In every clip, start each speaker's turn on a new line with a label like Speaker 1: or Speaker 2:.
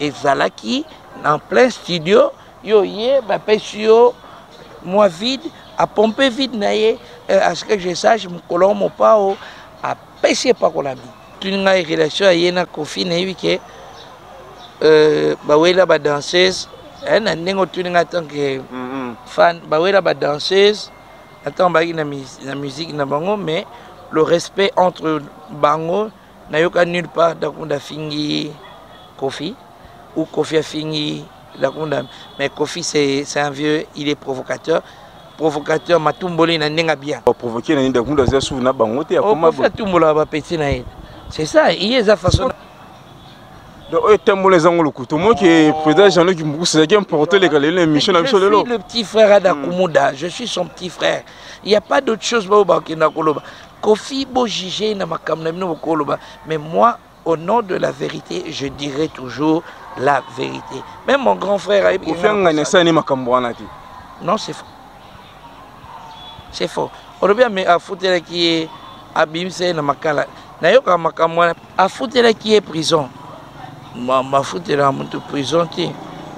Speaker 1: ezalaki na plein studio yo ye bapesi yo mwa vide apompe vide na ye euh, à ce que je sache mokolo yango mopao apesi epakolami tuni ngai relation ya ye na kofi nayebi ke euh, bawela badanseuse eh, na ndenge otuni ngai tant que fan bawela badanseuse na ntango bayaki na musique na bango mais le respect entre bango nayoka nulle part dakunda afingi kofi ou kofi afingi dakunda mais kofi c'est un vieux il est provocateur provocateur matumboli na ndenge bien oh, provoquer na ndenge dakunda aza
Speaker 2: suvi na bango te akoma oh, atumbola ba petit na
Speaker 1: ye c'est ça il est façon
Speaker 2: donc oyo tembola eza ngo lokuta omoki eh, président jean-luc mbukusa ezalaki
Speaker 1: importe eleka lelo émission na biso lelo le petit frère adakumuda je suis son petit frère il y a pas d'autre chose baoyo bakenda koloba kofi bo juge ye na makambo na bino bokoloba mais moi au nom de la vérité je dirai toujours la vérité même mon grand frère ayebi Kofi Angan asala ni makambo wana te non c'est faux c'est faux olobi ame afutelaki ye abimisa ye na makala nayokaka makambo wana Afutelaki ye prison. Bafutela mutu prison te.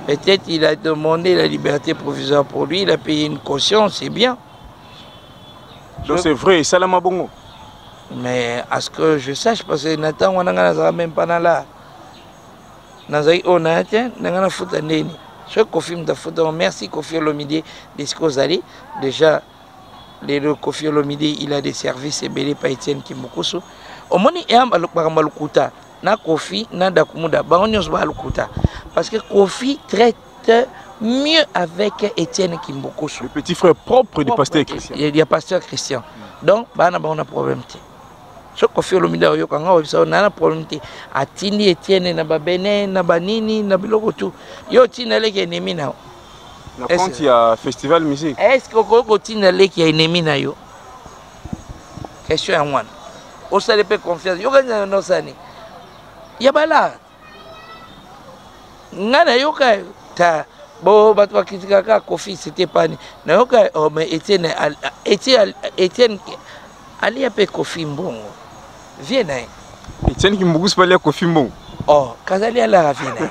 Speaker 1: Peut-être il a demandé la liberté provisoire pour lui, il a payé une caution, c'est bien.
Speaker 2: Donc c'est vrai, Salama Bongo. Mais
Speaker 1: à ce que je sache, parce que Nathan, on n'a même pas là. nazalaki oyo naya te ndenge nafuta ndeni soki kofi moto afuta merci kofi olomide desika ozali déjà lelo kofi olomide il a des services ebele pa etienne kimbukusu omoni makambo ya lokuta na kofi na dakumuda bango nyonso baya lokuta parce que kofi traite mieux avec etienne kimbukusu le petit frère
Speaker 2: propre du pasteur christian ya pasteur christian
Speaker 1: donc baya na bango na problème te so kofi olomide oyoka nga oyebisa yo naa na problème te atindi etienne na babene na banini na biloko tu yo otinda eleki enemi na yo na compte
Speaker 2: ya festival musique est ce que okoki kotinda
Speaker 1: leki ya enemi na yo question yango wana osali mpe confiance yokani na nosani ya bala ngai nayoka ta bo bato bakritikaka kofi sete pani nayoka oh, me etienne etienne alia mpe kofi mbongo vie na ye etienne kimbukusi
Speaker 2: mpe alia kofi mbongo oh kazali
Speaker 1: alaka vie na ye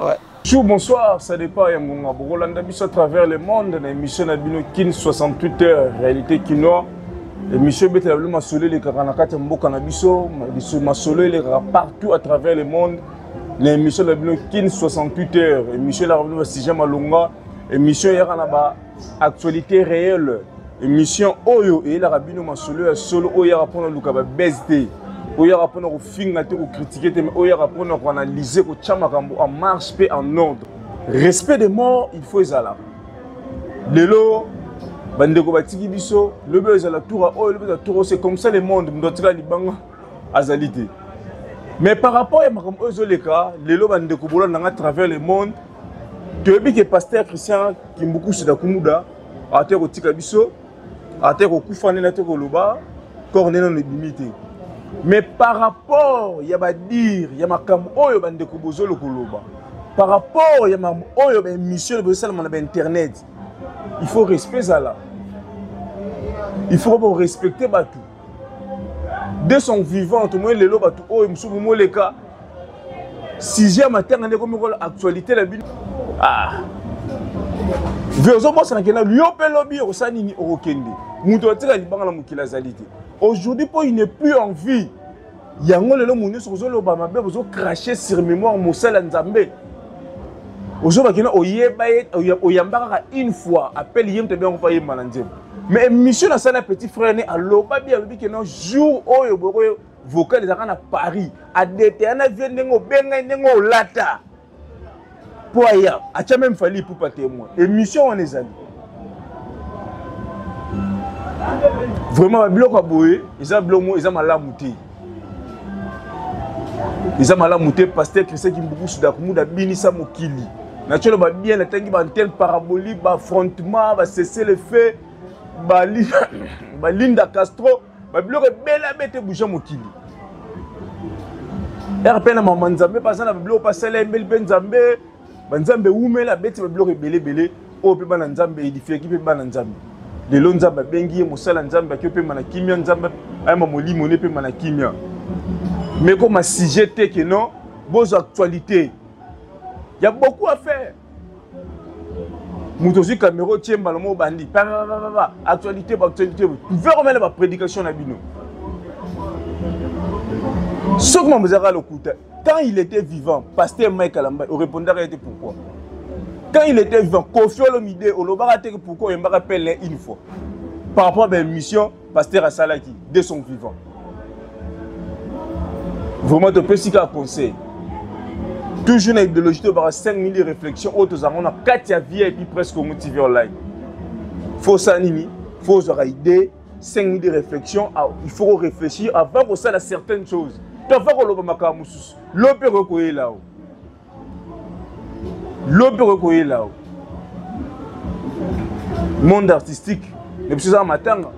Speaker 2: Ouais. Bonjour,
Speaker 1: bonsoir, ça
Speaker 2: dépend ya ngonga bokolanda biso à travers le monde na émission na bino kin 68 heures réalité kinois émission ebetela bino masolo elekaka na kati ya mboka na biso masolo elekaka partout à travers le monde na émission na bino kin 68 heures émission elaka bino basujet malonga émission eyaka na ba actualité réelle émission oyo eyelaka bino masolo ya solo oyo eyaka mpona luka babese te oyo eyaka mpona kofinga te kokritike te oyo eyaka mpona koanalyse kotya makambo en marche mpe en ordre respect de mort il faut ezala lelo bandeko batiki biso lobi oyo ezala toura oyo lobi ezala tour c'est comme ça le monde moto atika libanga azali te mais par rapport ya makambo oyo ezoleka lelo bandeko bolanda nga travers le monde toyebi ke pasteur christian kimbukusu na kumuda ate kotika biso ate kokufa nde na te koloba corps nde nano ebimi te mais par rapport ya badire ya makambo oyo bandeko bozolo koloba par rapport ya makambo oyo baémission bozosalama na bainternet il faut respect ezala il faut korespecte bato de son vivant tomoni lelo bato oyo mosusu bomoleka sujet ya matanga nde ekomi kola actualité na bino ah. ve ozobosana kenda yo mpe lobi okosala nini okokende moto atika libanga na mokili azali te aujourd'hui mpo il n'est plus en vie yango lelo moto nyonso kozoloba mabe bozocrache sur mémoire mosali ya nzambe ozobaki na oyeba ye oyamba kaka une fois apele ye moto ebiango mpo ayemba na nzembo mais émission nasali na petit frère ne aloba bi alobi kena jour oyo bokoyo vocal ezalaka na paris adetaya na vie ndenge obengai ndenge olata mpo aya atya meme fali ipupa témoin émission wana ezali vraiment babiloko ya boye eza biloko moko eza malamu te eza malamu te paster christian kimbukusu dakumuda abinisa mokili natyo loba bien natangi baantene parabolique baaffrontement basesele fe balinda castro ba biloko ebele abeta ebouja mokili ere mpe na mama nzambe mpe aza na babiloko mpe asala embeli mpe nzambe banzambe ewumela abeti babiloko ebele ebele oyo mpe bana nzambe edifiaki mpe bana nzambe lelo nzambe abengi ye mosala nzambe aki opema na kimia nzambe ayema molimo ne epema na kimia mekoma sujet te ke non bozwa actualité ya beaucoup affaire moto ozwi kamera otie mbala moko obandi paa actualité baactualité vers omele baprédication na bino soki mambo ezalaka lokuta quand il était vivant pasteur mike alamba orépondaka ye te pourquoi quand il était vivant kofi olomide olobaka te pourquoi oyembaka pele une fois par rapport à baémission pasteur asalaki de son vivant vraiment topesi kaka conseil toujours na idéologie tobaka 5 mili réflexion oyo tozalaka na kati ya vie epuis presque omo tv online fo osala nini fo ozwaka idée 5 mili réflexion ah, il faut réfléchir avant kosala certaines choses to avant koloba makambo mosusu lo mpe ekoki koyela o lobi okoki koyela yo monde artistique na biso ezaka matanga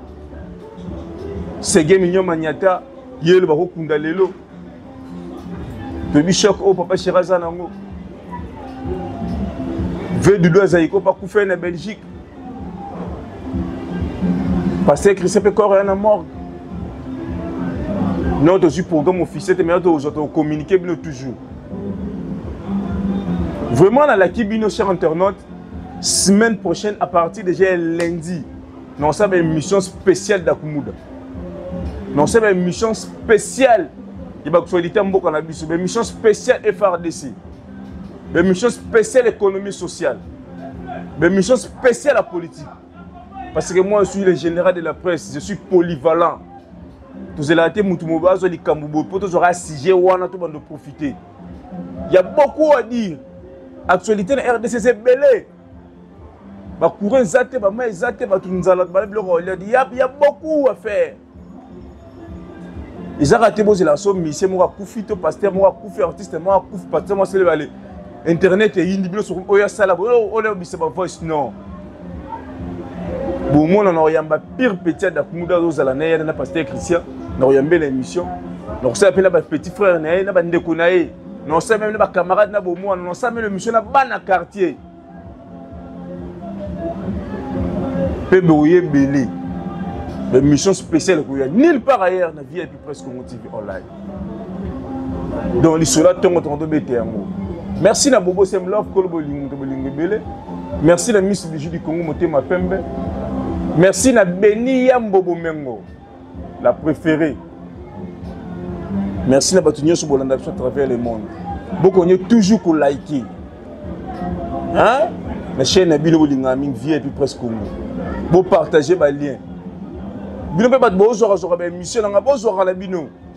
Speaker 2: sege minio maniata ye lo bakokunda lelo toyebi shok oyo papa shera aza nango vedudo azali ko bakufa ye na belgique paster christian mpe corps ya na morgue no tozwi programme officiel te mai tozwa tocommunike bino toujours vraiment nalaki bino cher internaute semaine prochaine à partir déjà ya lundi naosala émission spéciale dakumuda naosala émission spéciale ya bakusolite ya mboka na biso baémission spéciale frdc baémission spéciale économie sociale Ba émission spéciale à politique. Parce que moi, je suis le général de la presse. Je suis polyvalent. tozela te motu mobo azwa likambo boye mpo tozwaka sujet wana to bando profite ya beaucoup à dire actualité na rdc eza ebele bacourant eza te bama eza te bato nzala bala biloko ya ya beaucoup à faire ezaka te bozela so misie moko akufi to paster moko akufi artiste moko akufi paster moko aselebale internet eyindi bino soki oyo asala oyo obisa bavoice non bomona na koyamba pire petit ya dakumuda azozala na ye na paster christian na koyambela émission na kosala mpe na bapetit frère na ye na bandeko na ye na kosala meme na bacamarade na bomwana na kosala meme émission na bana quartier mpe boye ebele bamission spéciale ekoya nulle part ailleurs na vip presque congo tv online donc lisolo ya ntongo tongo tobete yango merci na bobo sem love kolo bolingo moto bolingo ebele merci na miss biju du congo motema pembe merci na beni ya mbobo mengo la préférée merci na bato nyonso bolanda biso à travers le monde bokonye toujours kolike hein? na chaîne na bino bolingaka mingi vie epuis presque congo bopartage balien bino mpe bato bozwakazwaka baémission na ngai bozwaka na bino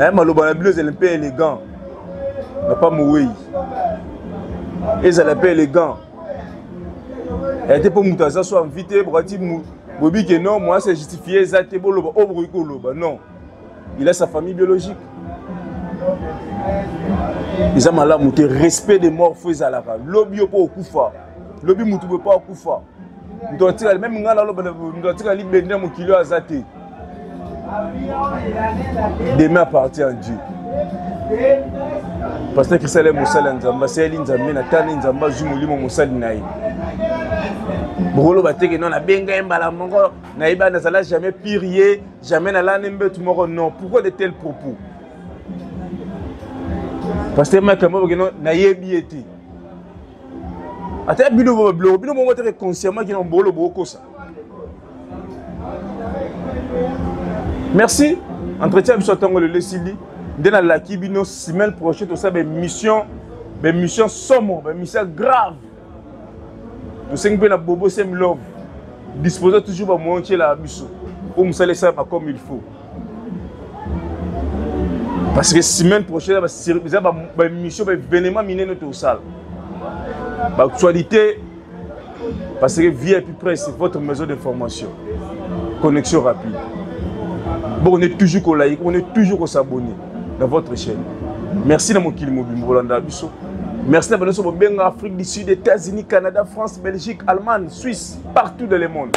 Speaker 2: eh, maloba na bino ezali mpe élégant papa mowei ezala mpe élégant eh, te mpo moto aza so envi te bokati boyebi ke non moyen se justifie eza te boloba oyo oh, bokoki koloba non il a sa famille biologique eza malamu te respect de mort fo ezalaka lobi yo mpo okufa lobi motu boye mpo akufa moto atikali meme ngai naloba moto atikali bende mokili oyo aza te demain appartient à dieu pasteur christian ale mosali ya nzambe asaleli nzambe na tani nzambe azwi molimo mosali na ye bokoloba teke no nabenga ye mbala moko nayebi ana azala jamais pire ye jamais nalani mbetu moko non pourquoi de tel propos pasteur makambo bakeno nayebi ye te ata bino bo babiloko bino bongo teke consciemment kina mobolo bokokosa merci entretien ya biso ya ntango lelo esili nde nalaki bino semaine prochaine tosala baémission baémission somo baémission grave tosengi mpe na bobo semilove disposa toujours bamoyen otyelaka biso oyo mosala esalama comme il faut parce que semaine prochaine eza baémission baévénement minene tosala baactualité parce que vip presse votre maison d'information connexion rapide boko nde toujours kolai boko nde toujours kosabonne dans votre chaîne merci na mokili mobimba bolandaka biso merci na banonso bobenga afrique du sud états-unis canada france belgique allemagne suisse partout dans le monde